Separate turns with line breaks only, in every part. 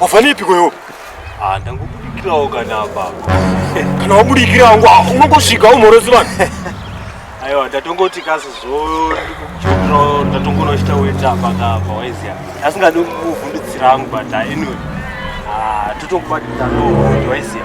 Wafanipi kwa hiyo? Ah, ndangobudikira ogana apa. Kana wabudikira wangu unongosvika umorozi vanhu. Aiwa ndatongoti kasi zvo ndikuchotro ndatongoona uchita weta apa apa waiziya. Asingadi kuvhundutsira wangu but anyway. Ah, totokubatidza no waiziya.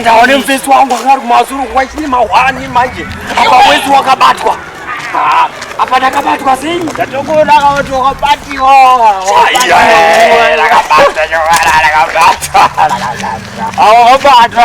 ndaone mufesi wangu anga ari kumazuru kuva chine mahwani manje apa wesi wakabatwa apa ndakabatwa sei ndatokuona akavati wakabatiwa wakabatwa